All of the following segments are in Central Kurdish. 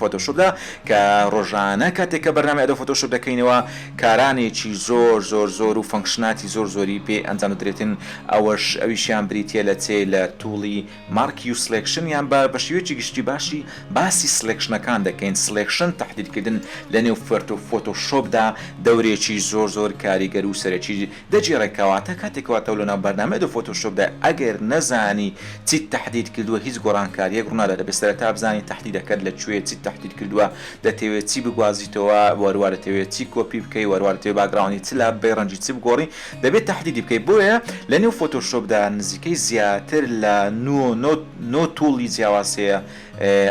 فۆتۆشۆپدا کە ڕۆژانە کاتێک کە بەرنامەی ئەدۆب فۆتۆشۆپ دەکەینەوە کارانێکی زۆر زۆر زۆر و فەنکشناتی زۆر زۆری پێ ئەنجام دەدرێتن ئەوەش ئەویشیان بریتیە لە چێ لە توڵی مارک یو سلێکشن یان بە بە شێوەیەکی گشتی باشی باسی سلێکشنەکان دەکەین سلێکشن تەحدیدکردن لە نێو فۆتۆشۆپدا دەورێکی زۆر زۆر کاریگەر و سەرەکی دەگێڕێ کەواتە کاتێک واتەو لەناو بەرنامەی ئەدۆب فۆتۆشۆپدا ئەگەر نەزانی چیت تەحدید کردووە هیچ گۆڕانکاریەک ڕوونادا دەبێت سەرەتا بزانی تەحدیدەکەت لە کوێ چیت تەحدید کردووە دەتەوێت چی بگوازیتەوە وەروا دەتەوێت چی کۆپی بکەی وەروا دەتەوێت باکگراوندی چ لاببەی ڕەنگی چ بگۆڕی دەبێت تەحدیدی بکەی بۆیە لەنێو فۆتۆشۆپدا نزیکەی زیاتر لە نۆ نۆ نۆ توڵی جیاواز هەیە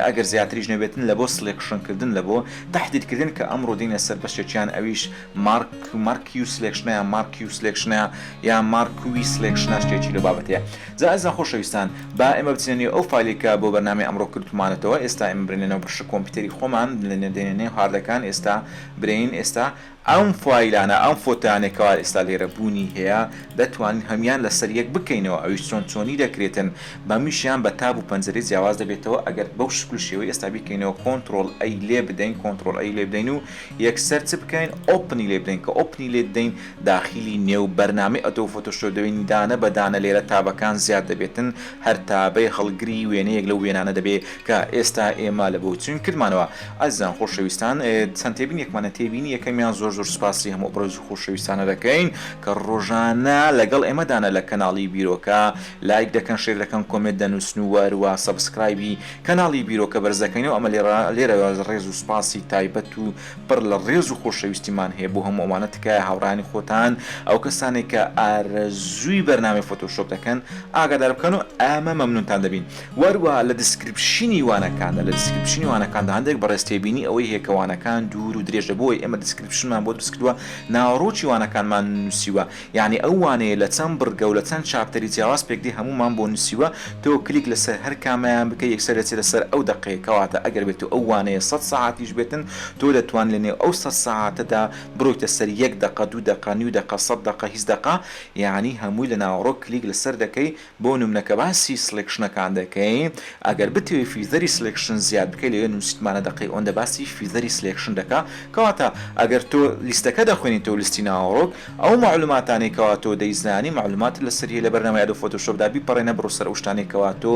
ئەگەر زیاتریش نەبێتن لەبۆ سڵێکشن کردن لەبۆ تەحدید کردن کە ئەمڕۆ دێینە سەر بەشێکیان ئەویش مارک، مارکیوس لێکشنەیە، مارکیوس لێکشنەیە، یا مارکویس لێکشنە شتێکی لەو بابەتەیە. جا ئەزیزان خۆشەویستان، با ئێمە بچینە نێو ئەو فایلەی کە بۆ بەرنامەی ئەمڕۆ کردومانەتەوە، ئێستا ئێمە برێینە نێو بەشە کۆمپیوتەری خۆمان، دێینە نێو هاردەکان، ئێستا برێین ئێستا ئەم فایلانە، ئەم فۆتۆیانەی کەوا ئێستا لێرە بوونی هەیە، دەتوانین هەموویان لەسەر یەک بکەینەوە، ئەویش چۆن چۆنی دەکرێتن، بەمیشیان بە تاب و پەنجەرەی جیاواز دەبێتەوە، ئەگەر بەو شکل و شێوەی ئێستا بیکەینەوە، کۆنتڕۆڵ ئەی لێ بدەین، کۆنتڕۆڵ ئەی لێ بدەین و یەکسەر چ بکەین ئۆپنی لێ بدەین کە ئۆپنی لێ دەین داخیلی نێو بەرنامەی ئەدۆب فۆتۆشۆپ دەبین دانە بە دانە لێرە تابەکان زیاد دەبێتن هەر تابەی هەڵگری وێنەیەک لەو وێنانە دەبێ کە ئێستا ئێمە لە بۆچوین کردمانەوە ئازیزان خۆشەویستان چەند تێبینیەکمانە تێبینی یەکەمیان زۆر زۆر سوپاسی هەموو ئەبرۆزی خۆشەویستانە دەکەین کە ڕۆژانە لەگەڵ ئێمەدانە لە کەناڵی بیرۆکە لایک دەکەن شێر دەکەن کۆمێنت دەنوسن و وەهروە سەبسکرایبی کەناڵی بیرۆکە بەرزەکەینەو ئەمە لێرە لێرەوە ڕێز و سوپاسی تایبەت و پڕ لە ڕێز و خۆشەویستیمان هەیە بۆ هەموو ئەوانە تکایە هاوڕێیانی خۆتان ئەو کەسانەی کە ئارەزووی بەرنامەی فۆتۆشۆپ دەکەن ئاگادار بکەن و ئەمە مەمنونتان دەبین وە هەروەها لە دیسکریپشنی وانەکاندا لە دیسکریپشنی وانەکاندا هەندێک بەڕێز تێبینی ئەوەی هەیە کە وانەکان دوور و درێژە بۆیە ئێمە دیسکریپشنمان بۆ دروست کردووە ناوەڕۆکی وانەکانمان نووسیوە یانی ئەو وانەیە لە چەند بڕگە و لە چەند چاپتەری جیاواز پێکدێ هەموومان بۆ نووسیوە، تۆ کلیک لەسەر هەر کامەیان بکەی یەکسەر دەچێتە سەر ئەو دەقەیە کەواتە ئەگەر بێتو ئەو وانەیە سەد سەعاتیش بێتن تۆ دەتوان لە نێو ئەو سەد سەعاتەدا بڕۆیتە سەر یەک دەقە دوو دەقە نیو دەقە سەد دەقە هیچ دەقە یانی هەمووی لە ناوەڕۆک کلیک لەسەر دەکەی بۆ نمونە کە باسی سلێکشنەکان دەکەین ئەگەر بتەوێ فیزەری سلێکشن زیاد بکەی لەوێ نوسیتمانە دەقەی ئۆندە باسی فیزەری سلێکشن دەکا کەواتە ئەگەر تۆ لیستەکە دەخوێنیتەوە لیستی ناوەڕۆک ئەو مەعلوماتانەی کەوا تۆ دەیزانی مەعلوماتت لەسەری هەیە لە بەرنامەی ئەدۆب فۆتۆشۆپ دا بیپەڕێنە بڕۆ سەر ئەو شتانەی کەوا تۆ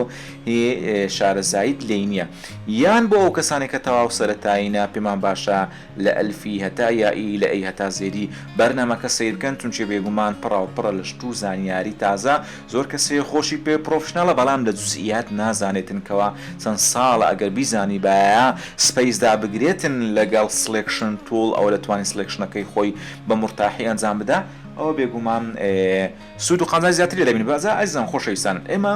هی شارەزاییت لێی نیە یان بۆ ئەو کەسانەی کە تەواو سەرەتایینە پێمان باشە لە ئەلفی هەتا یائی لە ی هەتا زێدی بەرنامەکە سەیرکەن چونکێ بێگومان پڕاو پڕە لە شت و زانیاری تازە زۆر کەسێ خۆشی پێ پڕۆفشناڵە بەڵام لە جوزئیات نازانێتن کەوا چەند ساڵە ئەگەر بیزانیبایە سپەیس دابگرێتن لەگەڵ سڵێکشن توڵ ئەوە دەتوانی سڵێکشنەکەی خۆی بە مورتاحی ئەنجام بدا ئەوە بێگومان سوود و قازانجی زیاتری لێ دەبینی جا ئەزیزان خۆشەویستان ئێمە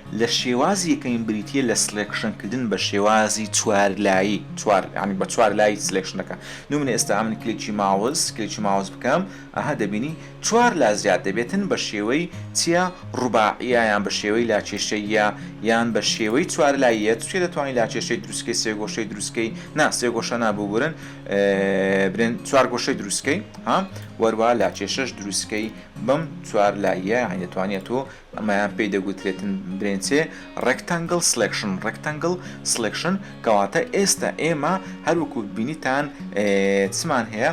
لە شێوازی یەکەمین بریتییە لە سلێکشن کردن بە شێوازی چوار لایی چوار یانی بە چوار لای سلێکشن دەکا نمونە ئێستا ئەمن کلێکی ماوس کلێکی ماوس بکەم ئەها دەبینی چوار لا زیاد دەبێتن بە شێوەی چیا ڕوباعیە یان بە شێوەی لا کێشەیە یان بە شێوەی چوار لاییە چێ دەتوانانی لا کێشەی دروستکەی سێ گۆشەی دروستکەی نا سێ گۆشە ناببورن برێن چوار گۆشەی دروستکەی ها وەروە لا کێشەش دروستکەی بەم چوار لاییە یانی دەتوانێت تۆ ئەمەیان پێی دەگوترێتن برێنچێ ڕێکتەنگڵ سڵێکشن ڕێکتەنگڵ سڵێکشن کەواتە ئێستا ئێمە هەر وەکو بینیتان چمان هەیە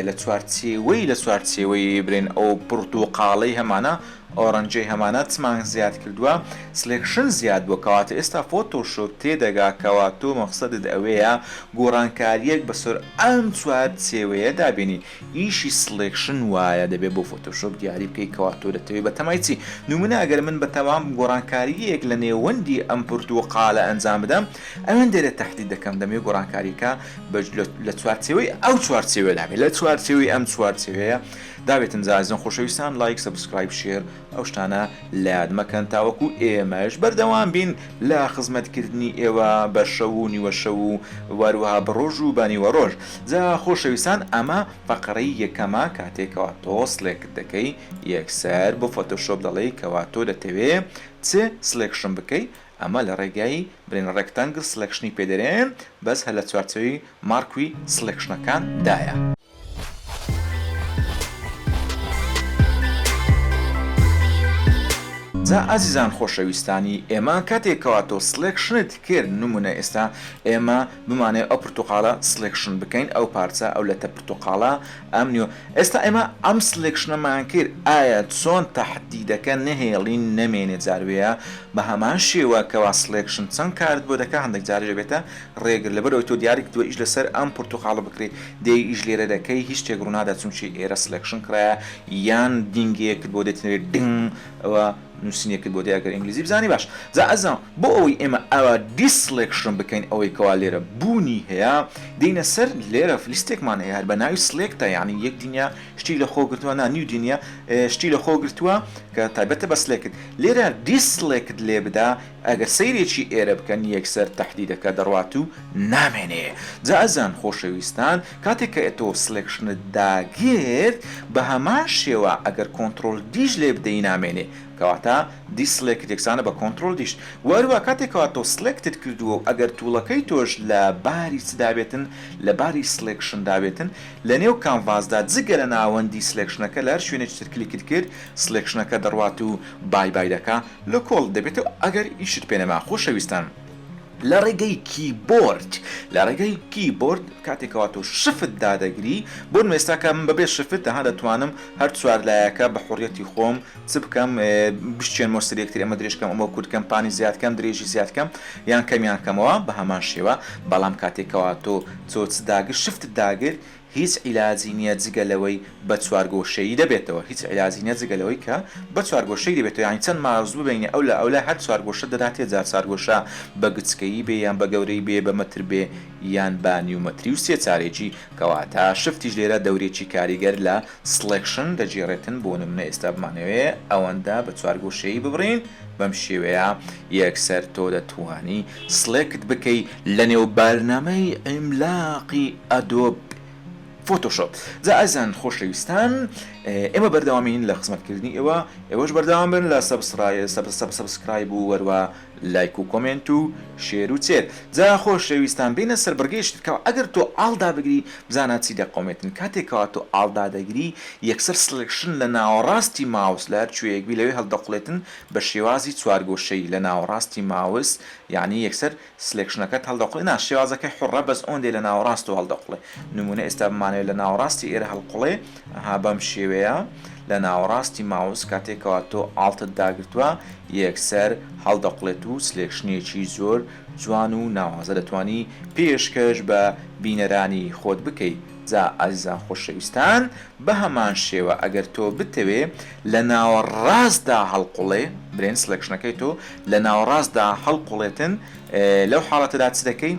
لە چوارچێوەی لە چوارچێوەی برێن ئەو پڕتوقاڵەی هەمانە ئۆرەنجەی هەمانە چمان زیاد کردووە سلێکشن زیاد بووە کەواتە ئێستا فۆتۆشۆپ تێدەگا کەوا تۆ مەقسەدت ئەوەیە گۆڕانکاریەک بەسەر ئەم چوار چێوەیە دابێنی ئیشی سڵێکشن وایە دەبێ بۆ فۆتۆشۆپ دیاری بکەی کەوا تۆ دەتەوێ بەتەمای چی نمونە ئەگەر من بەتەمام گۆڕانکاریەیەک لە نێوەندی ئەم پرتوقالە ئەنجام بدەم ئەوێن دەێ تەحدید دەکەم دەمێ گۆڕانکاریەکە بە لە چوارچێوەی ئەو چوارچێوەدا بێ لە چوارچێوەی ئەم چوارچێوەیە دابێتم زازن خۆشەویستان لایک سەبسکرایب شێر. ئەو شتانە لەیاد مەکەن تاوەکو ئێمەش بەردەوام بین لە خزمەت کردنی ئێوە بە شەو و نیوە شەو و واروەها بە ڕۆژ و بە نیوە ڕۆژ. جا خۆشەویستان ئەمە فەقرەی یەکەمە کاتێ کەوا تۆ سڵێکت دەکەی یەکسەر بۆ فۆتۆشۆپ دەڵێی کەوا تۆ دەتەوێ چ سڵێکشن بکەی ئەمە لە ڕێگای برین ڕێکتەنگل سڵێکشنی پێ دەرێن بەس هەر لە چوارچێوەی ماڕکوی سڵێکشنەکان دایە. جا ئازیزان خۆشەویستانی ئێمە کاتێک کەواتۆ سڵێکشنت کرد نمونە ئێستا ئێمە بمانەێ ئەو پرتوقالە سڵێکشن بکەین ئەو پارچە ئەو لەتە پرتوقالە ئەم نیۆ ئێستا ئێمە ئەم سڵێکشنەمان کرد ئایا چۆن تەحدیدەکە نەهێڵین نەمێنێ جاروەیە بە هەمان شێوە کەوا سڵێکشن چەند کارت بۆ دەکا هەندێک جاریش دەبێتە ڕێگر لەبەرەوەی تۆ دیاری کردوە ئیش لەسەر ئەم پرتوقالە بکرێ دەی ئیش لێرە دەکەی هیچ شتێک ڕونادا چونکی ئێرە سلێکشن کڕایە یان دینگێکت بۆ دەتنەوێت دنگ ئەوە نوسینێکت بۆ دێ ئەگەر ئینگلیزی بزانی باش جا ئەزان بۆ ئەوەی ئێمە ئەوە دیسلێکشن بکەین ئەوەی کەوا لێرە بوونی هەیە دێینە سەر لێرە فلیستێکمان هەیە هەر بە ناوی سلێکتە یعنی یەک دنیا شتی لە خۆ گرتووە نا نیو دنیا شتی لە خۆ گرتووە کە تایبەتە بە سلێکت لێرە دیسلێکت لێ بدا ئەگەر سەیرێکی ئێرە بکەن یەکسەر تەحدیدەکە دەڕوات و نامێنێ جا ئەزان خۆشەویستان کاتێک کە تۆ سلێکشنت داگرت بە هەمان شێوە ئەگەر کۆنتڕۆڵ دیش لێ بدەی نامێنێ کەواتە دی سلێکت یەکسانە بە کۆنتڕۆڵ دیش وە هەروە کاتێک کەوا تۆ سلێکتت کردووە و ئەگەر توڵەکەی تۆش لە باری چ دابێتن لە باری سلێکشن دابێتن لە نێو کانڤاس دا جگە لە ناوەندی سلێکشنەکە لە هەر شوێنێکی تر کلیکت کرد سلێکشنەکە دەڕوات و بای بای دەکا لە کۆڵت دەبێتەوە ئەگەر ئیشت پێ نەما خۆشەویستان لە ڕێگەی کیبۆرد لە ڕێگەی کیبۆرد کاتێک کەوا تۆ شفت دادەگری بۆ نموونە ئێستا کە من بەبێ شفت تەنها دەتوانم هەر چوار لایەکە بە حوڕیەتی خۆم چ بکەم بشچێنمەوە سەر یەکتری ئەمە درێژ کەم ئەمە کورت کەم پانی زیاد کەم درێژی زیاد کەم یان کەمیان کەمەوە بە هەمان شێوە بەڵام کاتێک کەوا تۆ چۆچ داگر شفتت داگر هیچ عیلاجی نیە جگە لەوەی بە چوارگۆشەیی دەبێتەوە هیچ عیلاجی نیە جگە لەوەی کە بە چوارگۆشەیی دەبێتەوە یانی چەند مارز ببینی ئەو لە ئەو لای هەر چوارگۆشە دەداتێ جا چارگۆشە بە گچکەیی بێ یان بە گەورەی بێ بە مەتر بێ یان بە نیو مەتری و سێ چارێکی کەواتە شفتیش لێرە دەورێکی کاریگەر لە سڵێکشن دەگێڕێتن بۆ نمونە ئێستا بمانەوێ ئەوەندە بە چوار گۆشەیی ببڕین بەم شێوەیە یەکسەر تۆ دەتوانی سڵێکت بکەی لە نێو بارنامەی عیملاقی ئەدۆب فۆتۆشۆپ جا ئازان خۆشەویستان ئێمە بەردەوامین لە خزمەت کردنی ئێوە ئێوەش بەردەوام بن لە سەبسڕای سەبسکرایب و وەروە لایک و کۆمێنت و شێر و چێر. جا خۆشەویستان بێنە سەر بڕگەیەکی تر کەوا ئەگەر تۆ ئاڵ دابگری بزانە چی دەقۆمێتن کاتێک کەوا تۆ ئاڵ دادەگری یەکسەر سڵێکشن لە ناوەڕاستی ماوس لە هەر کوێیەک بی لەوێ هەڵدەقوڵێتن بە شێوازی چوارگۆشەیی لە ناوەڕاستی ماوس یانی یەکسەر سڵێکشنەکەت هەڵدەقوڵێ نا شێوازەکەی حوڕە بەس ئۆندەی لە ناوەڕاستەوە هەڵدەقوڵێ نموونە ئێستا بمانەوێ لە ناوەڕاستی ئێرە هەڵقوڵێ ئەها بەم شێوەیە لە ناوەڕاستی ماوس کاتێک کەوا تۆ ئاڵتت داگرتوە یەکسەر هەڵدەقڵێت و سلێکشنێکی زۆر جوان و ناوازە دەتوانی پێشکەش بە بینەرانی خۆت بکەی جا ئازیزان خۆشەویستان بەهەمان شێوە ئەگەر تۆ بتەوێ لە ناوەڕاستدا هەڵقوڵێ برێن سلێکشنەکەی تۆ لە ناوەڕاستدا هەڵقوڵێتن لەو حاڵەتەدا چ دەکەی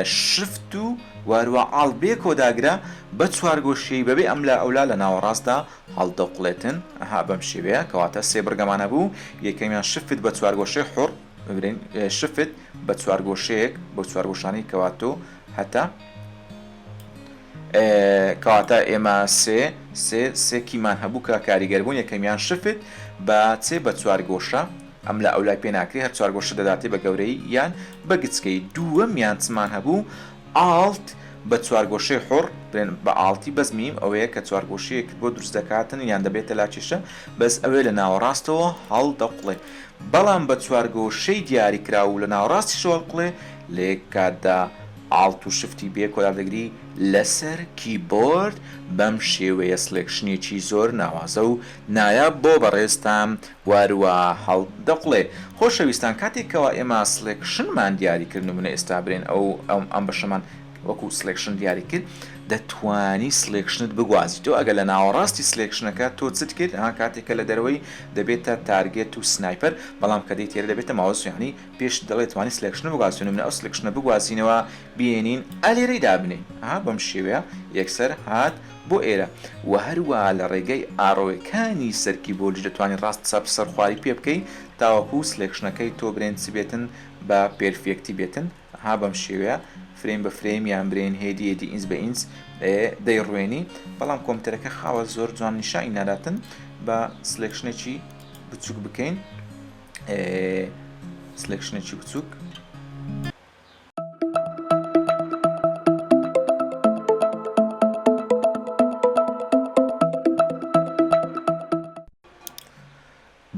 شفت و واروا عاڵ بێ کۆداگرە بە چوارگۆشیی بەبێ ئەملا ئەولا لە ناوەڕاستدا هەڵدەوقڵێتن، ئەها بەم شێوەیە، کەواتە سێ بڕگەمان هەبوو، یەکەمیان شفت بە چوارگۆشەی حوڕ، ببرێن شفت بە چوارگۆشەیەک، بەو چوارگۆشانەی کەوا تۆ هەتە، کەواتە ئێمە سێ سێ سێ کیمان هەبوو کە کاریگەربوون، یەکەمیان شفت بە چێ بە چوارگۆشە، ئەم لە ئەولای پێ ناکرێ هەر چوار گۆشە دەداتێ بە گەورەی یان بە گچکەی دووەم یان چمان هەبوو ئاڵت بە چوار گۆشەی حوڕ دەێن بە ئاڵتی بەس میم ئەوەیە کە چوار گۆشەیەکت بۆ دروست دەکاتن یان دەبێتە لاکێشە بەس ئەوێ لە ناوەڕاستەوە هەڵ دەقوڵێ بەڵام بە چوار گۆشەی دیاری کراو و لە ناوەڕاستیشەوە هەڵقوڵێ لە یەک کاتدا ئاڵت و شفتی بێ کۆلا دەگری لەسەر کیبۆرد بەم شێوەیە سڵێکشنێکی زۆر ناوازە و نایاب بۆ بەڕێزتان واروا هەڵ دەقڵێ. خۆشەویستان کاتێک کەوا ئێمە سڵێکشنمان دیاری کرد نمونە ئێستا برێن ئەو ئەم بەشەمان وەکو سڵێکشن دیاری کرد دەتوانی سڵێکشنت بگوازیتەوە ئەگەر لە ناوەڕاستی سڵێکشنەکە تۆ چت کرد ها کاتێک کە لە دەرەوەی دەبێتە تارگێت و سنایپەر بەڵام کە دێیت تێرە دەبێتە ماوس یانی پێشت دەڵێ توانی سڵێکشن بگوازیتەوە نمونە ئەو سڵێکشنە بگوازینەوە بێنین ئا لێرەی دابنێ ها بەم شێوەیە یەکسەر هات بۆ ئێرە وە هەروا لە ڕێگەی ئاڕۆێکانی سەرکی بۆلج دەتوانی ڕاست چەپ سەر خواری پێ بکەی تاوەکو سلێکشنەکەی تۆ برێنچ بێتن بە پێرفێکتی بێتن ها بەم شێوەیە فرەیم بە فرەیم یان برێن هێدی هێدی ئینچ بە ئینچ دەی ڕوێنی بەڵام کۆمپتەرەکە خاوە زۆر جوان نیشانی ناداتن بە سلێکشنێکی بچوک بکەین سلێکشنێکی بچوک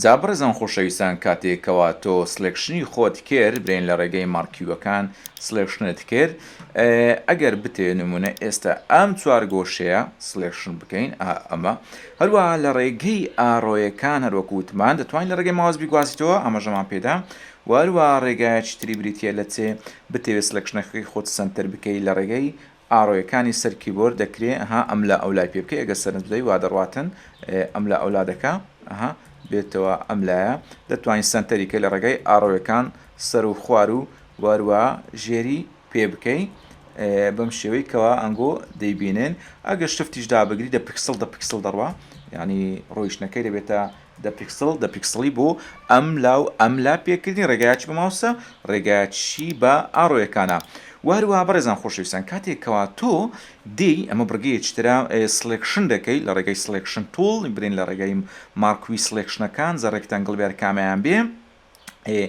جا بەڕێزان خۆشەویستان کاتێ کەوا تۆ سلێکشنی خۆت کرد برێن لە ڕێگەی مارکیوەکان سلێکشنت کرد ئەگەر بتێ نمونە ئێستا ئەم چوار گۆشەیە سلێکشن بکەین ئەمە هەروە لە ڕێگەی ئارۆیەکان هەروەکووتمان دەتوانین لە ڕێگەی ماوەز بیگوازیتەوە ئەمەژەمان پێدا و هەروەها ڕێگایەکی تری بریتیە لە چێ، بتەوێ سلکشنەکەکەی خۆت سەنتەر بکەی لە ڕێگەی ئاڕۆیەکانی سەر کیبۆرد دەکرێ ئەها ئەم لا ئەو لای پێ بکەی ئەگەر سەرنج بدەی وا دەڕواتن ئەم لا ئەو لا دەکا ئەها بێتەوە ئەم لایە دەتوانی سەنتەری کەی لە ڕێگای ئاڕۆیەکان سەر و خوار و و هەروەها ژێری پێ بکەی بەم شێوەی کەوا ئەنگۆ دەیبینێن ئەگەر شفتیش دابگری دە پکسڵ دە پکسڵ دەڕوا یعنی ڕۆیشتنەکەی دەبێتە دە پیکسڵ دە پیکسڵی بۆ ئەم لا و ئەم لا پێکردنی ڕێگایەکی بە ماوسە ڕێگایەکیشی بە ئاڕۆیەکانە وە هەروەها بەڕێزان خۆشەویستان کاتێک کەوا تۆ دێی ئەمە بڕگەیەکی ترە سڵێکشن دەکەی لە ڕێگای سڵێکشن توڵ برێن لە ڕێگای ماڕکوی سڵێکشنەکان زە ڕێکتەنگڵ بیار کامەیان بێ ئێ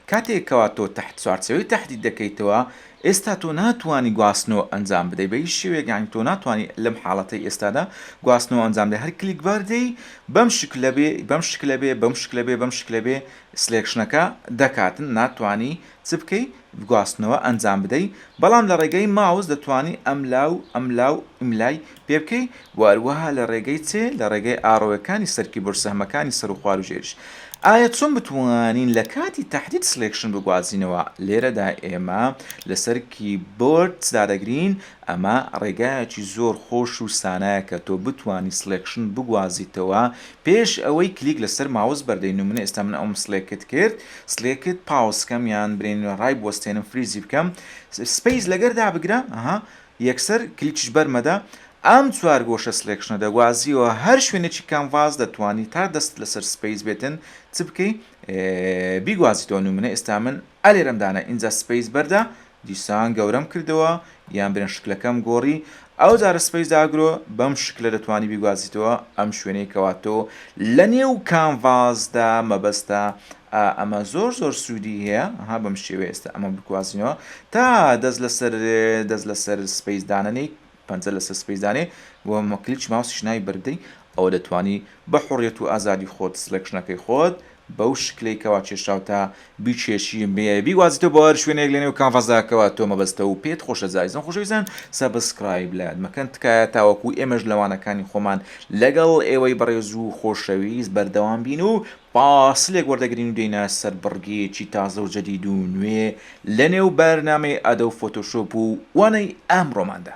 کاتێ کەوا تۆ تەحت چوارچێوەی تەحدید دەکەیتەوە ئێستا تۆ ناتوانی گواستنەوە ئەنجام بدەی بە هیچ شێوەیەک یانی تۆ ناتوانانی لەم حاڵەتەی ئێستادا گواستنەوە ئەنجام دەی هەر کلیک بار دەی بەم شکلە بێ بەم شکلە بێ بەم شکلە بێ بەم شکلە بێ سلێکشنەکە دەکات ناتوانی چ بکەی گواستنەوە ئەنجام بدەی بەڵام لە ڕێگەی ماوس دەتوانی ئەملا و ئەملا و ئیملای پێ بکەی وە هەروەها لە ڕێگەی چێ لە ڕێگەی ئاڕۆوەکانی سەر کیبۆرد سەهمەکانی سەر و خوار و ژێریش ئایە چۆن بتوانین لە کاتی تەحدید سلێکشن بگوازینەوە لێرەدا ئێمە لەسەر کیبۆرد چ دادەگرین ئەمە ڕێگایەکی زۆر خۆش و سانایە کە تۆ بتوانی سلێکشن بگوازیتەوە پێش ئەوەی کلیک لەسەر ماوس بەردەی نمونە ئێستا من ئەوم سلێکت کرد سلێکت پاوز کەم یان برێنی نوێ ڕای بوەستێنم فریزی بکەم سپەیس لەگەر دابگرە ئەها یەکسەر کلیکیش بەر مەدە ئەم چوار گۆشە سلێکشنە دەگوازیەوە هەر شوێنێکی کانڤاس دەتوانی تا دەست لەسەر سپەیس بێتن چ بکەی بیگوازیتەوە نمونە ئێستا من ئەلێرەم دانا ئینجا سپەیس بەردە دیسان گەورەم کردەوە یان برێن شکلەکەم گۆڕی ئەوجارە سپەیس ئاگرۆ بەم شکلە دەتوانی بیگوازیتەوە ئەم شوێنەی کەوا تۆ لە نێو کانڤاسدا مەبەستە ئا ئەمە زۆر زۆر سوودی هەیە ها بەم شێوەیە ئێستا ئەمە بکوازینەوە تا دەست لەسەر دەست لەسەر سپەیس دانەنێیت پەنجە لەسەر سپەیس دانێ و مکلیچ ماوسیش ناوی بەربدەی، ئەوە دەتوانی بە حوڕیەت و ئازادی خۆت سلێکشنەکەی خۆت بەو شکلەی کەوا کێشراوتە بیکێشی و بێ بیگوازیتەوە بۆ هەر شوێنێک لەنێو کانڤاسدا کەوا تۆ مەبەستە و پێت خۆشە زائیزەن خۆشەویستان سەبسکرایب لایان مەکەن تکایە تاوەکو ئێمەش لە وانەکانی خۆمان لەگەڵ ئێوەی بەڕێز و خۆشەویست بەردەوام بین و فاسلێک وەردەگرین و دێینە سەر بڕگەیەکی تازە و جەدید و نوێ لە نێو بەرنامەی ئەدۆب فۆتۆشۆپ و وانەی ئەمڕۆماندا.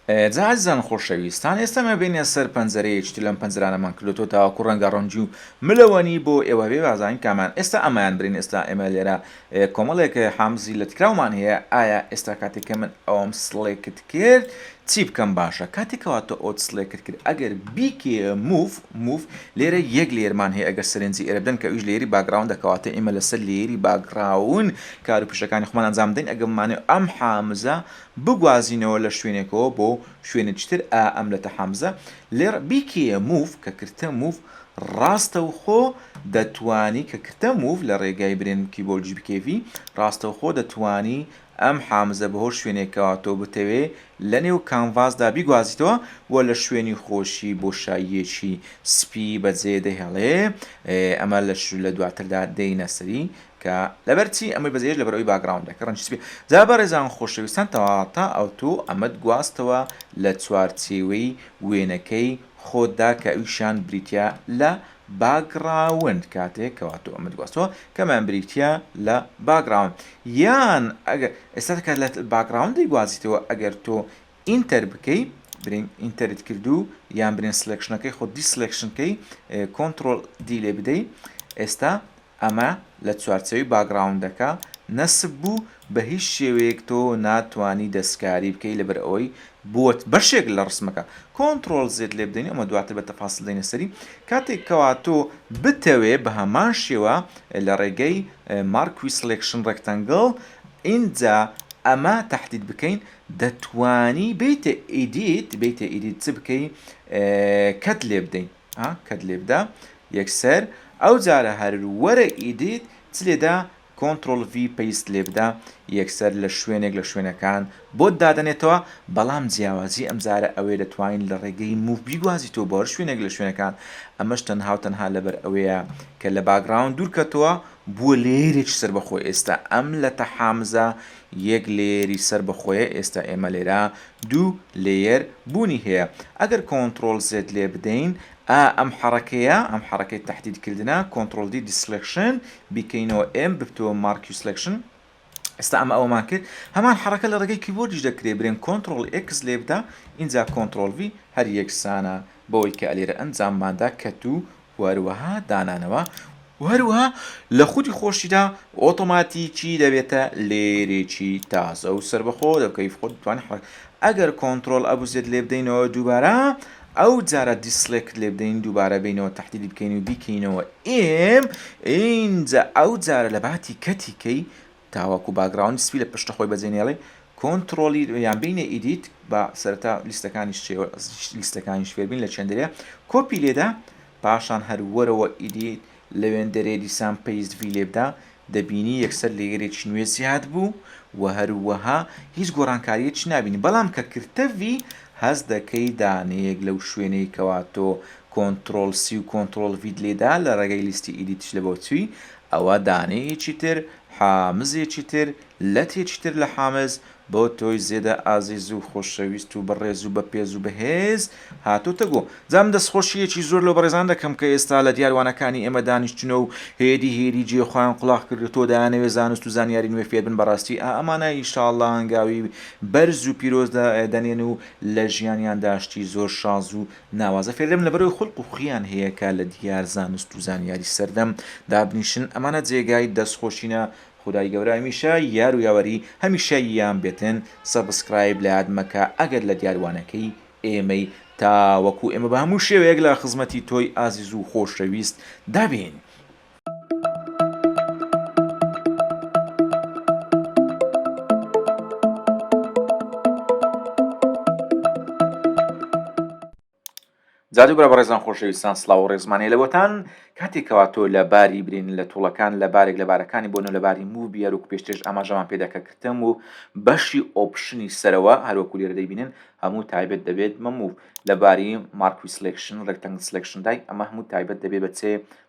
جا ئازیزان خۆشەویستان ئێستا مە بینە سەر پەنجەرەیەکی تر لەم پەنجەرانەمان کردوتەوە تاوەکو ڕەنگە ڕەنگی و ملەوەنی بۆ ئێوە بێ بازانین کامیان ئێستا ئەمەیان برین ئێستا ئێمە لێرە کۆمەڵێک حامزی لە تکراومان هەیە ئایا ئێستا کاتێک کە من ئەوم سڵێکت کرد چی بکەم باشە کاتێکەوە تۆ ئەوت سڵێکت کرد ئەگەر بیکێ موف موف لێرە یەک لێرمان هەیە ئەگەر سەرنجی ئێرە بدەن کە ئیش لێری باگراون دەکەواتە ئێمە لەسەر لێری باگراون کار و پیشەکانی خۆمان ئەنجام دەین ئەگەمانێ ئەم حامزە بگوازینەوە لە شوێنێکەوە بۆ شوێنێکتر ئا ئەم لەتە حەمزە لێڕ بیکێیە موف کە کرتە موف ڕاستەوخۆ دەتوانی کە کرتە موف لە ڕێگای برێن کیبۆرجی بکێفی ڕاستەوخۆ دەتوانی ئەم حامزە بەهۆ شوێنێکەوە تۆ بتەوێ لە نێو کانڤاسدا بیگوازیتەوە وە لە شوێنی خۆشی بۆشاییەکی سپی بەجێ دەهێڵێ ئەمە لە لە دواتردا دێینە سەری کە لەبەر چی ئەمەی بەجێهێشت لەبەر ئەوی باکگراوندەکە ڕەنجی سپی جا بەڕێزان خۆشەویستان تەواتا ئەوتۆ ئەمەت گواستەوە لە چوارچێوەی وێنەکەی خۆتدا کە ئەویشیان بریتیە لە باکگراوند کاتێک کەوا تۆ ئەمەت گواستەوە کەمان بریتیە لە باکگراوند یان ئەگەر ئێستا کە لە باکگراوندی گوازیتەوە ئەگەر تۆ ئینتەر بکەی برین ئینتەرت کردو یان برین سلکشنەکەی خۆ دیسلکشنکەی کۆنتترۆل دی لێ بدەی ئێستا ئەمە لە چوارچێوەی باگڕاوندەکە نەسب بوو بە هیچ شێوەیەک تۆ ناتوانی دەستکاری بکەی لەبەر ئەوەی بۆت بەشێک لە ڕسمەکە کۆنتڕۆڵ زێد لێ بدەین ئەمە دواتر بە تەفاسل دێینە سەری کاتێک کەوا تۆ بتەوێ بە هەمان شێوە لە ڕێگەی مارکوی سڵێکشن ڕێکتەنگڵ ئینجا ئەمە تەحدید بکەین دەتوانی بیتە ئیدیت بیتە ئیدیت چ بکەی کەت لێ بدەین. ها کەت لێ بدا یەکسەر ئەو جارە هەر وەرە ئیدیت چ لێ دا کۆنتڕۆڵ ڤی پەیست لێ بدا یەکسەر لە شوێنێک لە شوێنەکان بۆت دادەنێتەوە بەڵام جیاوازی ئەم جارە ئەوەیە دەتوانیت لە ڕێگەی موڤ بیگوازیتەوە بۆ هەر شوێنێک لە شوێنەکان ئەمەش تەنها و تەنها لەبەر ئەوەیە کە لە باگڕاوند دوور کەتەوە بووە لەیەرێکی سەربەخۆ ئێستا ئەم لەتە حامزە یەک لەیەری سەر بەخۆیە ئێستا ئێمە لێرە دوو لەیەر بوونی هەیە ئەگەر کۆنتڕۆڵ زێد لێ بدەین ئا ئەم حەڕەکەیە ئەم حەڕەکەی تەحدید کردنە کۆنتڕۆڵ دی دیسلێکشن بیکەینەوە ئێم ببتەوە مارکیوسلێکشن ئێستا ئەمە ئەوەمان کرد هەمان حەڕەکە لە ڕێگەی کیبۆردیش دەکرێ برێن کۆنتڕۆڵ ئێکس لێ بدە ئینجا کۆنتڕۆڵ ڤی هەر یەکسانە بەوەی کە ئەلێرە ئەنجامماندا کەتوو و هەروەها دانانەوە و هەروەها لە خودی خۆشیدا ئۆتۆماتیکی دەبێتە لێرێکی تازە و سەربەخۆ لە کەیف خۆت توان حرەک ئەگەر کۆنترۆل ئەبوزێت لێ بدەینەوە دووبارە ئەو جارە دیسلێکت لێ بدەین دووبارە بینەوە تحدیدی بکەین و بیکەینەوە ئێم ئینجا ئەو جارە لە باتی کەتی کەی تاوەکو باکگراوندی سپی لە پشتە خۆی بەجێ نێڵێ کۆنتڕۆڵی یان بینە ئیدیت با سەرەتا لیستەکانیش لیستەکانیش فێربین لە چێندرێ کۆپی لێدا پاشان هەر وەرەوە ئیدیت لەوێندەرێ دیسان پەیست ڤی لێبدا دەبینی یەکسەر لەیەرێکی نوێ زیاد بوو و هەروەها هیچ گۆڕانکاریەک نابینی بەڵام کە کرتە ڤی هەز دەکەی دانەیەک لەو شوێنەی کەوا تۆ کۆنترۆل سی و کۆنترۆل ڤیت لێدا لە ڕێگەی لیستی ئیدیتش لە بۆچووی ئەوە دانەیەکی تر، حامزێکی تر، لەتێکی تر لە حامز، بۆ تۆی زێدە ئازیز و خۆشەویست و بەڕێز و بەپێز و بەهێز هاتۆتە گۆ. جا من دەستخۆشییەکی زۆر لەو بەڕێزانە دەکەم کە ئێستا لە دیار وانەکانی ئێمە دانیشتوونە و هێدی هێدی جێی خۆیان قوڵاخ کردۆتەوە دەیانەوێ زانست و زانیاری نوێ فێر بن بەڕاستی ئا ئەمانە ئیشاڵڵا هەنگاوی بەرز و پیرۆز دەنێن و لە ژیانیاندا شتی زۆر شاز و ناوازە فێردەبن لەبەرەوەی خولق و خویان هەیە کە لە دیار زانست و زانیاری سەردەم دابنیشن ئەمانە جێگای دەست خۆشینە خودای گەورە هەمیشە یار و یاوەری هەمیشە یان بێتن سەبسکرایب لەیاد مەکە ئەگەر لە دیار وانەکەی ئێمەی تاوەکو ئێمە بە هەموو شێوەیەک لە خزمەتی تۆی ئازیز و خۆشەویست دابین. جادو برا بەڕێزان خۆشەویستان سلااو و ڕێزمانەیە لەوەتان کاتێکەوە تۆ لە باری برین لە توڵەکان لە بارێک لە بارەکانی بۆن و لە باری موو بیار و پێشتێش ئاماژەمان پێداکە کردم و بەشی ئۆپشنی سەرەوە هەروەکو لێرە دەیبینن هەموو تایبەت دەبێت مەموو لە باری مارکوی سلکشن ڕێکتەنگ سلکشندای ئەمە هەموو تایبەت دەبێت بە چێ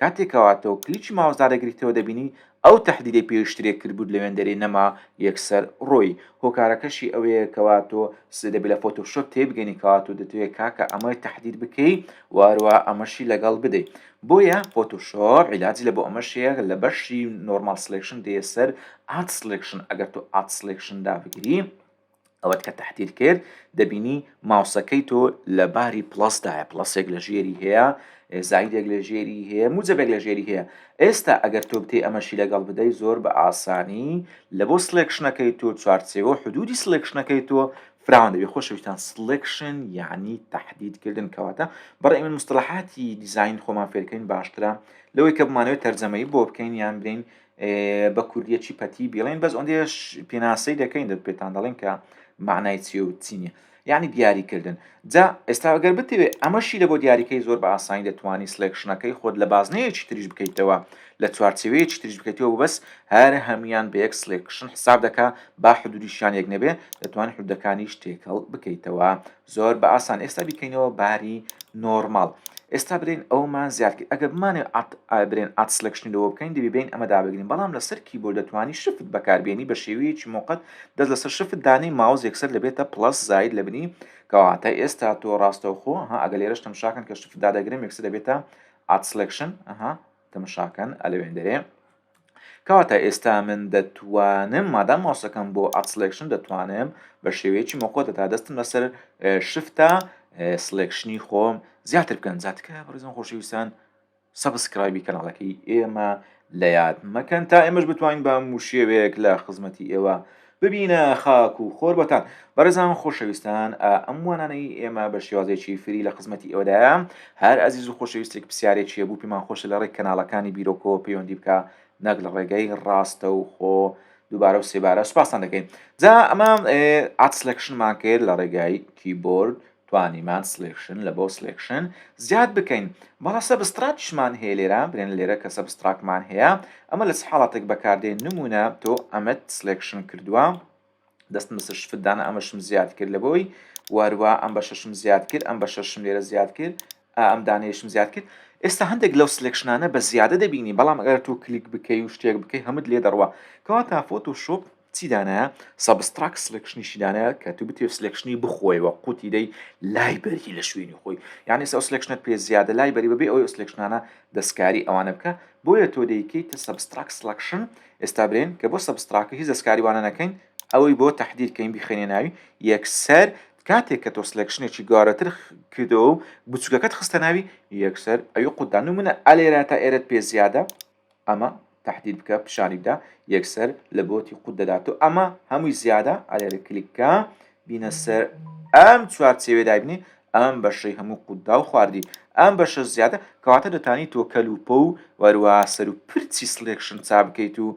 کاتێ کەوا تۆ کلیکی ماوس دادەگریتەوە دەبینی ئەو تەحدیدەی پێشترێ کردبوت لە وێندەرێ نەما یەکسەر ڕۆی هۆکارەکەشی ئەوەیە کەوا تۆ سێ دەبێ لە فۆتۆشۆپ تێبگەنی کەوا تۆ دەتەوێ کاکە ئەمەی تەحدید بکەی و هەروەها ئەمەشی لەگەڵ بدەی بۆیە فۆتۆشۆپ عیلاجی لە بۆ ئەمەش هەیە لە بەشی نۆرماڵ سلێکشن دێ سەر ئاد سلێکشن ئەگەر تۆ ئاد سلێکشن دابگری ئەوەت کە تەحتیل کرد دەبینی ماوسەکەی تۆ لە باری پلەسدایە پلەسێک لە ژێری هەیە زایدێک لە ژێری هەیە موجەبێک لە ژێری هەیە ئێستا ئەگەر تۆ بتێ ئەمەشی لەگەڵ بدەی زۆر بە ئاسانی لە بۆ سلێکشنەکەی تۆ چوارچێوە حدودی سلێکشنەکەی تۆ فراوان دەبێت خۆشەویستان سلێکشن یعنی تهدید کردن کەواتە بەڕێ من مستلحاتی دیزین خۆمان فێرکەین باشترە لەوەی کە بمانەوەی تەرجەمەی بۆ بکەین یان برین بە کوردیە چی پەتی بیڵێن بەس ئەندێش پێناسەی دەکەین دەت پێتان دەڵێن کە معنای چی و چینە یعنی دیاریکردن جا ئێستاگەر بتەوێت ئەمەشی لە بۆ دیاریکەی زۆر بە ئاسانی دەتوانانی سلێکشنەکەی خۆت لە بازنەیەکی تریش بکەیتەوە لە چوارچەوەیەکی تریش بکەیتەوە بەس هەر هەموان بە یەک سلێکشن حساب دەکە با حدودیشان یەک نەبێ دەتوانانی حدەکانیش تێکەڵ بکەیتەوە زۆر بە ئاسان ئێستا بیکەینەوە باری نۆرماڵ ئێستا برێن ئەومان زیاد کرد ئەگە بمانێ برێن ئات سلکشنی لەوە بکەین دەبی بین ئەمە دابگرین بەڵام لەسەر کیبۆرد دەتوانی شفت بەکاربیێنی بە شێوەیەکی موقت دەست لەسەر شفت دانی ماوز یەکسەر لەبێتە پلس زاید لە بنی کەواتە ئێستا تۆ ڕاستەوخۆ ها ئەگە لێرەش تەمشاکەن کە شفت دادەگرم یەکسەر دەبێتە ئات سلکشن ئەها تەمشاکەن ئەلەوێن دەرێ کەواتە ئێستا من دەتوانم مادام ماوسەکەم بۆ ئەتسلێکشن دەتوانم بە شێوەیەکی مۆکۆدە تا دەستم لەسەر شفتە سلێکشنی خۆم زیاتر بکەن زیاتکە بەڕزم خۆشەویستان سەبسکرایبی کەناڵەکەی ئێمە لە یاد مەکەن تا ئێمەش بتوانین بە موشێوەیەک لە خزمەتی ئێوە ببینە خاک و خۆر بۆتان. بەڕێزان خۆشەویستان ئا ئەم وانانەی ئێمە بە شێوازێکی فری لە خزمەتی ئێوەدایە هەر ئەزیز و خۆشەویستێک پسیارێکی هەبوو پێمان خۆشە لە ڕێک کەناڵەکانی بیرۆکەوە پەیوەندی بکا نەک لە ڕێگەی ڕاستە و خۆ دووبارە و سێبارە سوپاستان دەکەین جا ئەمە عات سلکشنمان کرد لە ڕێگای کیبۆرد توانیمان سڵێکشن لە بۆ سڵێکشن زیاد بکەین بەڵا سەبستراکیشمان هەیە لێرە برێن لێرە کە سەبستراکمان هەیە ئەمە لە چ حاڵاتێک بەکاردێن نمونە تۆ ئەمەت سڵێکشن کردووە دەستم بەسەر شفتدانە ئەمەشم زیاد کرد لە بۆی واروا ئەم بە شەشم زیاد کرد ئەم بە شەشم لێرە زیاد کرد ئەم دانەیەشم زیاد کرد ئێستا هەندێک لەو سلێکشنانە بە زیادە دەبینی بەڵام ئەگەر تۆ کلیک بکەی و شتێک بکەی هەمت لێ دەڕوا کەواتە فۆتۆشۆپ چی دانایە سەبستراک سلێکشنیشی دانایە کە تو بتێ سلێکشنی بخۆیەوە قوتی دەی لای بەری لە شوێنی خۆی یعنی سەو سلێکشنت پێ زیادە لای بەری بەبێ ئەو سلێکشنانە دەستکاری ئەوانە بکە بۆیە تۆ دەیکەیت سەبستراک سلەکشن ئێستا برێن کە بۆ سەبستراکە هیچ دەستکاری وانە نەکەین ئەوەی بۆ تهدیرکەین بخێنێ ناوی یەکسەر کاتێک کە تۆ سلێکشنێکی گەوارەتر کردەوە و بچوکەکەت خستە ناوی یەکسەر ئەوی قوتدا نمونە ئەلێرە تا ئێرەت پێ زیادە ئەمە تحدید بکە پیشانی بدە یەکسەر لە بۆتی قوت دەدات و ئەمە هەمووی زیادە ئەلێرە کلیککە بینە سەر ئەم چوارچێوێ دابنی ئەم بەشەی هەموو قوتدا و خواردی ئەم بەشە زیادە کەواتە دەتانی تۆ کەلوپە و وەروە سەر و پرچی سلێکشن چا بکەیت و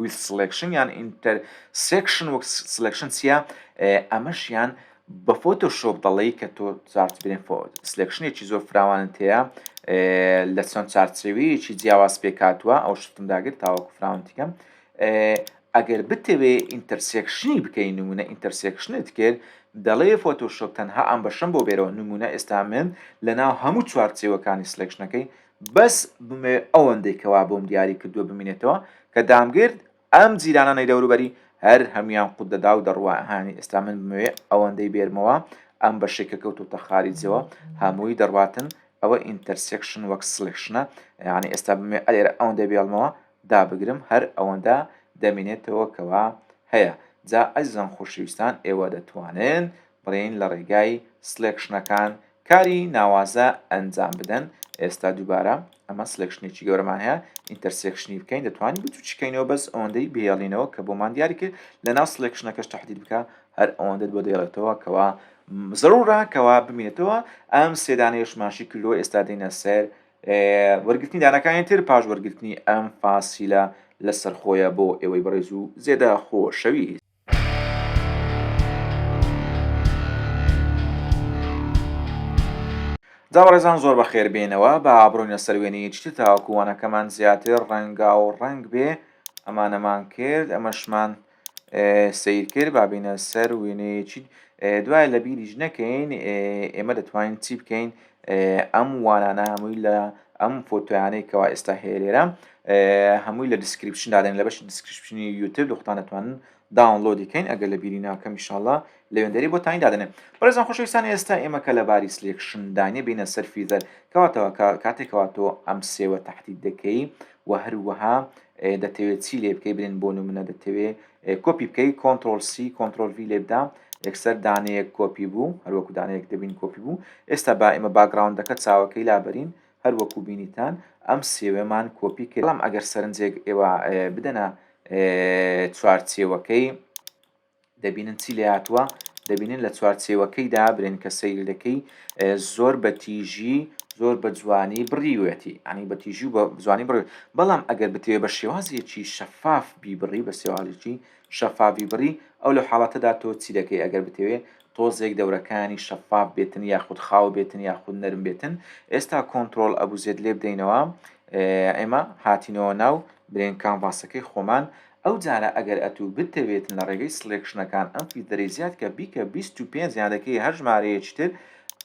ویست سڵێکشن یان ئینتەر سێکشن وەک سلێکشن چییە ئەمەشیان بە فۆتۆ شۆپ دەڵی کە تۆ چارتبرێن سلێکشنێکی زۆر فراوانت هەیە لە چەند چارچەوەیەکی جیاواز پێکاتوە ئەو شتم داگر تاوەکو فراونتیکەم ئەگەر بتەوێ ئینتەرسێکشنی بکەین نمونە ئینتەرسێکشنت کرد دەڵێ فۆتۆشۆپ تەنها ئەم بەشم بۆ بێرەوە نمونە ئێستا من لە ناو هەموو چوارچێوەکانی سلێکشنەکەی بەس بمەوێ ئەوەندەی کە وا بۆم دیاری کردووە بمینێتەوە کە دامگرت ئەم جیرانانەی دەوروبەری هەر هەموویان قوت دەدا و دەڕوا هانی ئێستا من بمەوێ ئەوەندەی بێرمەوە ئەم بەشەی کە کەوتۆتە خاریجەوە هەمووی دەڕواتن ئەوە ئینتەرسێکشن وەک سڵێکشنە یانی ئێستا بمەوێ ئەلێرە ئەوەندەی بێڵمەوە دابگرم هەر ئەوەندە دەمینێتەوە کەوا هەیە جا ئەزیزان خۆشەویستان ئێوە دەتوانن بڕێین لە ڕێگای سلێکشنەکان کاری ناوازە ئەنجام بدەن ئێستا دووبارە ئەمە سلێکشنێکی گەورەمان هەیە ئینتەرسێکشنی بکەین دەتوانین بچوچکەینەوە بەس ئەوەندەی بێڵینەوە کە بۆمان دیاری کرد لە ناو سلێکشنەکەش تحدید بکە هەر ئەوەندەت بۆ دەیڵێتەوە کەوا زەرورە کەوا بمێنێتەوە ئەم سێدانەیەشماشی کردو ئێستا دێنە سەر وەرگرتنی دانەکانی تر پاش وەرگرتنی ئەم فاسیلە لەسەر خۆیە بۆ ئێوەی بەڕێز و زێدە خۆشەویست جا بەڕێزان زۆر بەخێر بێنەوە با بڕۆینە سەر وێنەی چتر تاوەکو وانەکەمان زیاتر ڕەنگا و ڕەنگ بێ ئەمانەمان کرد ئەمەشمان سیر کرد با بینە سەر وێنەیەکی دوای لە بیریش نەکەین ئێمە دەتوانین چی بکەین ئەم وانانە هەمووی لە ئەم فۆتۆیانەی کەوا ئێستا هەیە لێرە هەمووی لە دیسکریپشن دادەن لە بەشی دیسکریپشنی یوتب دختان دەتوانن داونلۆدی کەین ئەگەر لە بیری ناکەم میشاءاللە لە وێندەری بۆ تانی دادەنێن بەڕێزان خۆشەویستان ئێستا ئێمە کە لە باری سلێکشندانە بینە سەر فیزەر کەواتەوە کاتێکەوە تۆ ئەم سێوە تهدید دەکەی و هەروەها دەتەوێ چی لێ بکەی برێن بۆ نمونە دەتەوێ کۆپی بکەی کۆنتترۆل سی کۆنتترۆل وی لێ بدا یەکسەر دانەیەک کۆپی بوو هەروەکو دانەیەک دەبین کۆپی بوو ئێستا با ئمە باگراونندەکە چاوەکەی لابەرین هەروەکو بینیتان ئەم سێوێمان کۆپی کردم ئەگەر سەرنجێک ئێوە بدەنە چوارچێوەکەی دەبینن چی لێهاتووە، دەبینن لە چوارچێوەکەیدا برێن کە سەیری دەکەی زۆر بە تیژی زۆر بە جوانی بڕیوێتی ئەنی بە تیژی و بە جوانی بڕێت بەڵام ئەگەر بتوێ بە شێوازێکی شەفاف بیبڕی بە سێوازێکی شەفاوی بڕی ئەو لە حاڵەتەدا تۆ چی دەکەی ئەگەر بتەوێ تۆزێک دەورەکانی شەفاف بێتن یاخود خاو بێتن یاخود نەرم بێتن ئێستا کۆنتترۆل ئەبوزێت لێ بدەینەوە ئێمە هاتینەوە ناو برێن کامڤاسەکەی خۆمان ئەو جارە ئەگەر ئەتوو بتەوێتن لە ڕێگەی سڵێکشنەکان ئەم فیلتەرەی زیاد کە بیکە بیست و پێنج یان دەکەی هەر ژمارەیەکی تر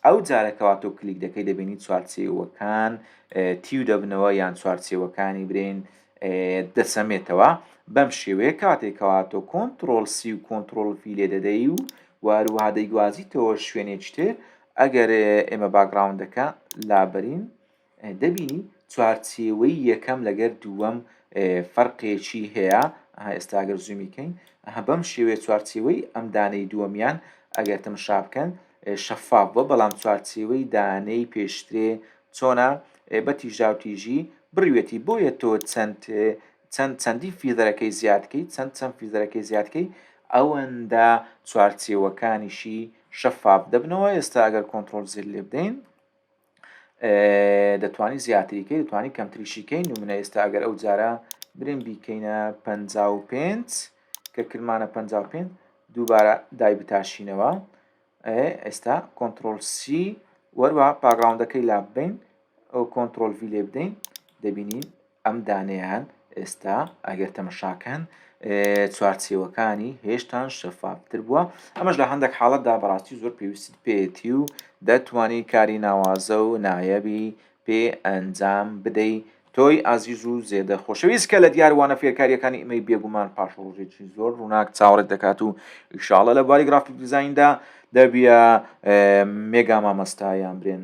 ئەو جارە کەوا تۆ کلیک دەکەی دەبینی چوارچێوەکان تیو دەبنەوە یان چوارچێوەکانی برین دەسەمێتەوە بەم شێوەیە کاتێک کەوا تۆ کۆنتترۆل سی و کۆنتترۆل فی لێ دەدەی و واروها دەیگوازیتەوە شوێنێکی تر ئەگەر ئێمە باگراوندەکە لابرین دەبینی چوارچێوەی یەکەم لەگەر دووەم فەرقێکی هەیە ئێستا گەر زوومی کەین بەم شێوەیە چوارچێوەی ئەم دانەی دووەمیان ئەگەر تەمشا بکەن شەفاف بە بەڵام چوارچێوەی دانەی پێشترێ چۆنا بە تیژا و تیژی بڕوێتی بۆیە تۆ چەند چەند چەندی فیدەرەکەی زیادکەی چەند چەند فیدەرەکەی زیادکەی ئەوەندە چوارچێوەکانیشی شەفاف دەبنەوە ئێستا ئەگەر کۆنتترۆل زیر لێ بدەین دەتوانی زیاتریکەی دەتوانی کەمتریشیکەی نمونە ئێستا ئەگەر ئەو جارە برێن بیکەینە پ پێنج کە کرمانە پ پێنج دووبارە دای بتاشینەوە ئێستا کۆنتترۆلسی وەروە پاگراونەکەی لا بین ئەو کۆنتترۆل ڤی لێ بدەین دەبینین ئەم دانەیان ئێستا ئەگەر تەمەشاکەن چوارچێوەکانی هێشتان شەفافتر بووە ئەمەش لە هەندێک حاڵەتدا بەڕاستی زۆر پێویستت پێێتی و دەتوانی کاری ناوازە و نایەبی پێ ئەنجام بدەی تۆی ئازیز و زێدە خۆشەویست کە لە دیاروانە فێرکاریەکانی ئیمەی بێگومان پاش ڕۆژێکی زۆر ڕووناک چاوەڕێت دەکات و ئیشاڵە لە باری گرافیک دیزایندا دەبیە مێگا مامەستایان برێن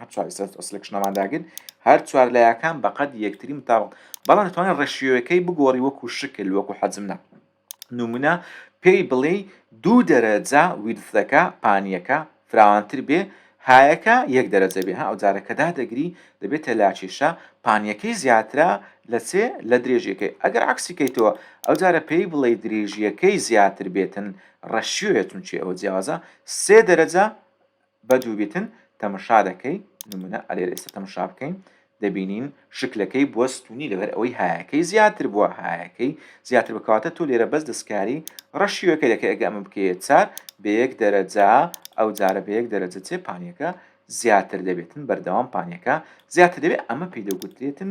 هەر چوار سلکشنەمان داگرت هەر چوار لایەکان بەقەد یەکتری متاوەڵ بەڵام توانێت ڕێشیۆەکەی بگۆڕی وەکو شکل وەکو حەجمنا نمونە پێی بڵێ دوو دەرەجە ویرفەکە پانیەکە فراوانتر بێ هایەکە یەک دەرەجە بێ ئەو جارەکەدا دەگری دەبێتە لاکێشە پانیەکەی زیاترە لە سێ لە درێژیەکەی ئەگەر عکسیکەیتەوە ئەو جارە پێی بڵێ درێژیەکەی زیاتر بێتن ڕەشیۆیە چونچێ ئەوە جیاوازە سێ دەرەجە بە دووبیتن تەمشا دەکەی نمونە ئەلێرە ئێستا تەمشا بکەین دەبینین شکلەکەی بووە ستونی لەبەر ئەوەی هایەکەی زیاتر بووە هایەکەی زیاتر بکاتە تۆ لێرە بەس دەستکاری ڕەشیوەکە دەکە ئەگە ئەمە بکەیە چار بە یەک دەرەجا ئەو جارە بە یەک دەرەجە چێ پانیەکە زیاتر دەبێتن بەردەوام پانیەکە زیاتر دەبێت ئەمە پێی دەگوترێتن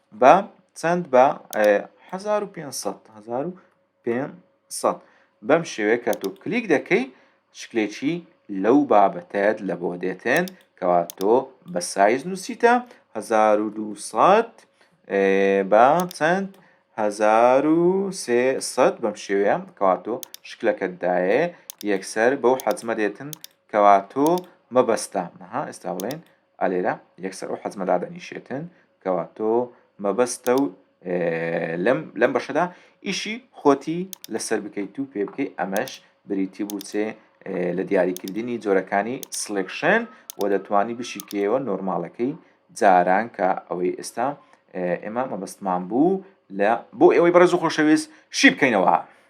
بە چەند بە هەزار و پێنج سەد هەزار و پێنج سەد بەم شێوەیە کە تۆ کلیک دەکەی شکلێکی لەو بابەتەت لە بۆ دێتێن کەوا تۆ بە سایز نووسیتە هەزار و دوو سەد بە چەند هەزار و سێ سەد بەم شێوەیە کەوا تۆ شکلەکەت دایێ یەکسەر بەو حەجمە دێتن کەوا تۆ مەبەستە ها ئێستا بڵێن ئالێرە یەکسەر ئەو حەجمە دادەنیشێتن کەوا تۆ مەبەستە و لەم لەم بەشەدا ئیشی خۆتی لەسەر بکەیت و پێ بکەیت ئەمەش بریتی بووچێ لە دیاریکردنی جۆرەکانی سلکشن و دەتوانی بشیکەوە نۆرمالەکەی جاران کە ئەوەی ئێستا ئێمە مەبەستمان بوو لە بۆ ئێوەی بەڕێز و خۆشەویست شی بکەینەوە.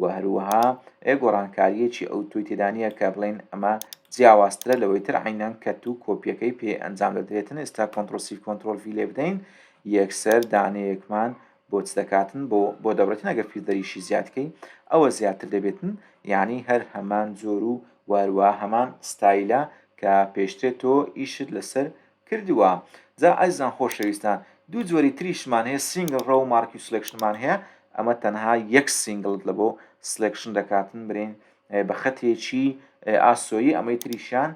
و هەروەها ئێ گۆڕانکارییەکی ئەوتۆی تێدا نییە کە بڵێین ئەمە جیاوازترە لەوەی تر عەینەن کە تو کۆپیەکەی پێ ئەنجام دەدرێتن ئێستا کۆنتڕۆڵ سیف کۆنتڕۆڵ ڤی لێ بدەین یەکسەر دانەیەکمان بۆ چ دەکاتن بۆ بۆ دەبڕێتن ئەگەر فیلدەریشی زیاد کەی ئەوە زیاتر دەبێتن یانی هەر هەمان جۆر و و هەروەها هەمان ستایلە کە پێشترێ تۆ ئیشت لەسەر کردووە جا ئەزیزان خۆشەویستان دوو جۆری تریشمان هەیە سینگل ڕەو مارکیو سلێکشنمان هەیە ئەمە تەنها یەک سینگڵت لەبۆ سلێکشن دەکاتن برین بە خەتێکی ئاسۆیی ئەمەی تریشیان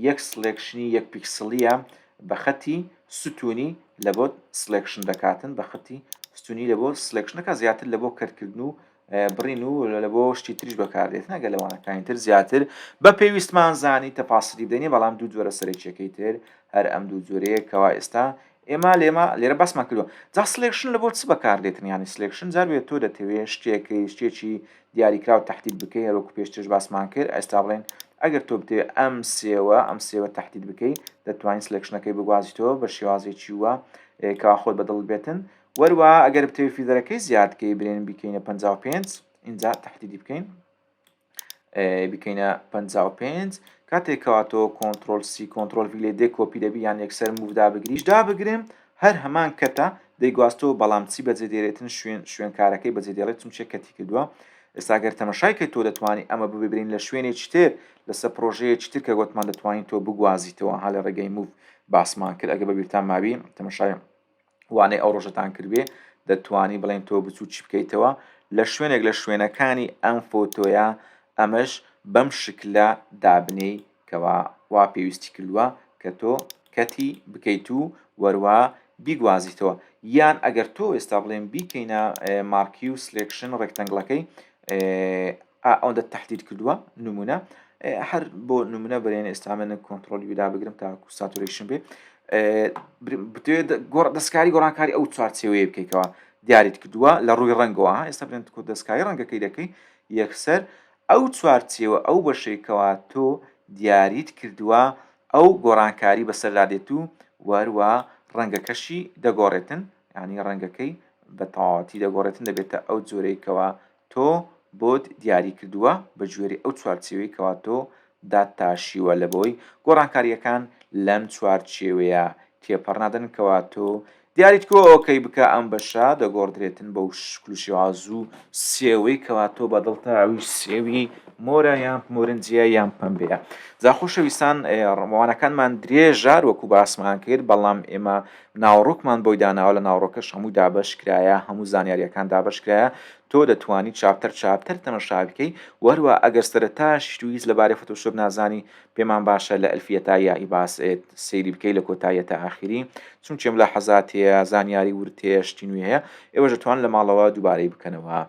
یەک سلێکشنی یەک پیکسلیە بە خەتی ستونی لەبۆ سلێکشن دەکاتن بە خەتی ستونی لەبۆ سلێکشنەکە زیاتر لەبۆ کەرتکردن و بڕین و لە بۆ شتی تریش بەکاردێت نەگە لەوانەکانی تر زیاتر بە پێویستمان زانی تەپاسری دەنی بەڵام دوو جۆرە سەرەکیەکەی تر هەر ئەم دوو جۆرەیە کەوا ئێستا ئێمە لێمە لێرە باسمان کردوە جا سلێکشن لە بۆ چ بەکاردێتن ینی سلێکشن جاروێت تۆ دەتەوێت شتێکی شتێکی دیاریکراوە تهدید بکەی هەروەکو پێشترش باسمان کرد ئەستا بڵێن ئەگەر تۆ بتێ ئەم سێوە ئەم سێوە تهدید بکەی دەتوانین سلێکشنەکەی بگوازیتەوە بە شێوازێکی وە کەوا خۆت بەدڵ بێتن وەروا ئەگەر بتەوێت فیدەرەکەی زیاد بکەی برێن بیکەینە 55 اینجا تحدیدی بکەین بکەینە 55 کاتێک کەواتەوە کۆنتترۆل سی کۆنتترۆل لێ دێ کۆپی دەبی یان یەکسەر مودا بگریش دا بگرم هەر هەمان کەتە دەیگواستەوە بەڵام چی بەجێ دێرێتن شوێن شوێنکارەکەی بەجێ دێڵێت چون چێ کەتی کردووە ئێستاگەر تەمەشای کە تۆ دەتوانانی ئەمە ببرین لە شوێنێ چتر لەسەر پرۆژەیە چتر کە گوتمان دەتوانین تۆ بگوازیتەوە ها لە ڕێگەی موو باسمان کرد ئەگە بەبییران ماوی تەمەشای وانەی ئەو ڕۆژەتان کردبێ دەتوانی بڵێن تۆ بچوو چی بکەیتەوە لە شوێنێک لە شوێنەکانی ئەم فۆتۆیە ئەمەش بەم شکلە دابنێی کەوا وا پێویستی کردووە کە تۆ کەتی بکەیت و وەروە بیگوازیتەوە یان ئەگەر تۆ ئێستا بڵێن بیکەینە مارکی و سلێکشن ڕێکتەنگڵەکەی ئا ئەوەندەت تەحدید کردووە نمونە هەر بۆ نمونە بەێن ئێستامێنە کۆنتترۆلی ودا بگرم تاکو ساتورشن بێ بتێت گۆڕ دەستکاری گۆڕانکاری ئەو چوارچەوەیە بکەیتەوە دیاریت کردووە لە ڕووی ڕەنگەوە ئێستا بێن کو دەستکاری ڕەنگەکەی دەکەی یەکسەر ئەو چوارچەوە ئەو بەشێکەوە تۆ دیاریت کردووە ئەو گۆڕانکاری بەسەردا دێت و وەروە ڕەنگەکەشی دەگۆڕێتن ینی ڕەنگەکەی بە تەواتی دەگۆڕێتن دەبێتە ئەو جۆرەیەکەوە تۆ بۆت دیاری کردووە بەگوێرەی ئەو چوارچێوەی کەوا تۆ داتاشیوە لەبەوەی گۆڕانکارییەکان لەم چوارچێوەیە تێپەڕنادەن کەوا تۆ دیاریت کردووە ئۆکەی بکە ئەم بەشە دەگۆڕدرێتن بەو شکل و شێوازو سێوەی کەوا تۆ بەدڵتە ئەوی سێوی مۆرە یان مۆرنجیە یان پەمبەیە جا خۆشەویستان ڕمەوانەکانمان درێژە وەکو باسمان کرد بەڵام ئێمە ناوەڕۆکمان بۆی داناوە لە ناوەڕۆکەش هەموو دابەش کرایە هەموو زانیاریەکان دابەش کرایە تۆ دەتوانی چاپتەر چاپتەر تەمەشا بکەی وە هەروە ئەگەر سەرەتاش تو هیچ لەبارەی فۆتۆشۆپ نازانی پێمان باشە لە الفیە تا یائی باس ێت سەیری بکەی لە کۆتاییە تا ئاخیری چونکێ ملاحەزات هەیە زانیاری ورد هەیە شتی نوێ هەیە ئێوەش دەتوان لە ماڵەوە دوبارەی بکەنەوە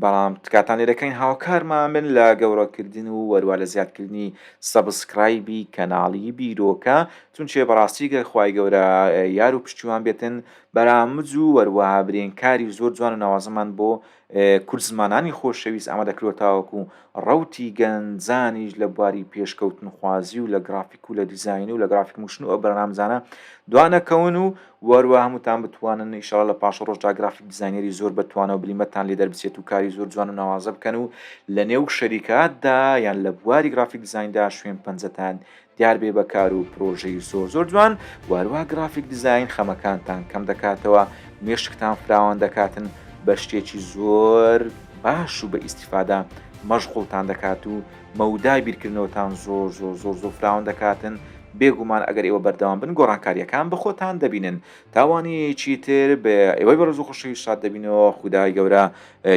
بەڵام تکاتان لێ دەکەین هاوکارمان بن لە گەورەکردن و وەروا لە زیادکردنی سەبسکرایبی کەناڵی بیرۆکە چونچێ بەڕاستی گەر خوای گەورە یار و پشتیوان بێتن بەرامج و وەروەها برێن کاری زۆر جوان و ناوازەمان بۆ کوردزمانانی خۆشەویست ئامادە کردوە تاوەکو ڕەوتی گەنجانیش لە بواری پێشکەوتنخوازی و لە گڕافیک و لە دیزاینی و لە گڕافیک موشن و ئەو بەرنامجانە دوانەکەون و وەروا هەمووتان بتوانن ان شاء اللە لە پاشەڕۆژدا گرافیک دیزاینەری زۆر بە توانا و بلیمەتتان لێ دەربچێت و کاری زۆر جوان و ناوازە بکەن و لە نێو شەریکاتدا یان لە بواری گرافیک دیزایندا شوێن پەنجەتان دیار بێ بە کار و پرۆژەی زۆر زۆر جوان وەروا گرافیک دیزاین خەمەکانتان کەم دەکاتەوە مێشکتان فراوان دەکاتن بە شتێکی زۆر باش و بە ئیستیفادە مەشغوڵتان دەکات و مەودای بیرکردنەوەتان زۆر زۆر زۆر زۆر فراوان دەکاتن، بێ گومان ئەگەر ئێوە بەردەوام بن گۆڕانکارییەکان بە خۆتان دەبینن تا وانەیەکی تر بە ئێوەی بەڕێز و خۆشەویست شاد دەبینەوە خودای گەورە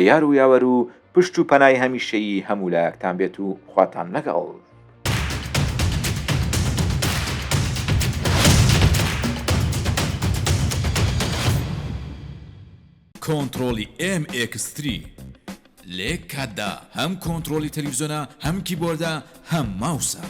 یار و یاوەر و پشت و پەنای هەمیشەیی هەموو لایەکتان بێت و خواتان لەگەڵ کۆنتڕۆڵی ئێم ئێکس تری، لە یەک کاتدا هەم کۆنتڕۆڵی تەلەفزیۆنە هەم کیبۆردە هەم ماوسە.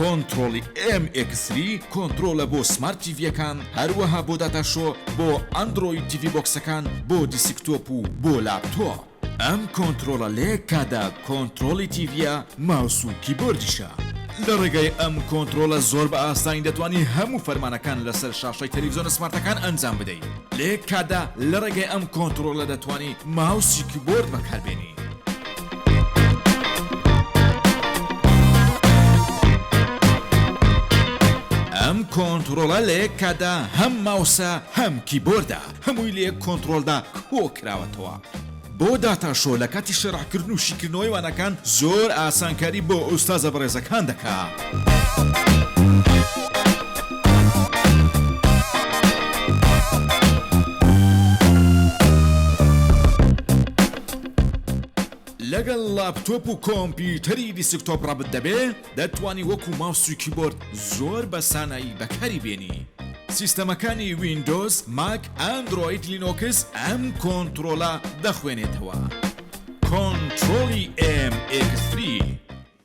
کۆنتڕۆڵی ئێم ئێکس تری کۆنتڕۆڵە بۆ سمارت تیڤیەکان هەروەها بۆ داتا شۆ بۆ ئەندڕۆید تیڤی بۆکسەکان بۆ دیسکتۆپ و بۆ لاپتۆپ. ئەم کۆنترۆڵە لە یەک کاتدا کۆنترۆڵی تیڤیە ماوس و کیبۆردیشە. لە ڕێگای ئەم کۆنترۆڵە زۆر بە ئاسانی دەتوانی هەموو فەرمانەکان لەسەر شاشەی تەلەفزیۆنە سمارتەکان ئەنجام بدەی. لە یەک کاتدا لە ڕێگای ئەم کۆنترۆڵە دەتوانی ماوس و کیبۆرد بەکاربێنی. ئەم کۆنترۆڵە لە یەک کاتدا هەم ماوسە هەم کیبۆردە. هەمووی لە یەک کۆنترۆلدا کۆکراوەتەوە. بۆ داتا شۆ لە کاتی شەرحکردن و شیکردنەوەی وانەکان زۆر ئاسانکاری بۆ ئوستازە بەڕێزەکان دەکا. لەگەڵ لاپتۆپ و کۆمپیوتەری دیسکتۆپ ڕەبت دەبێ؟ دەتوانی وەکو ماوس و کیبۆرد زۆر بە سانایی بەکاری بێنی. سیستەمەکانی ویندۆز، ماک، ئەندرۆید، لینۆکس ئەم کۆنترۆڵە دەخوێنێتەوە. کۆنترۆڵی ئێم ئێکس تری.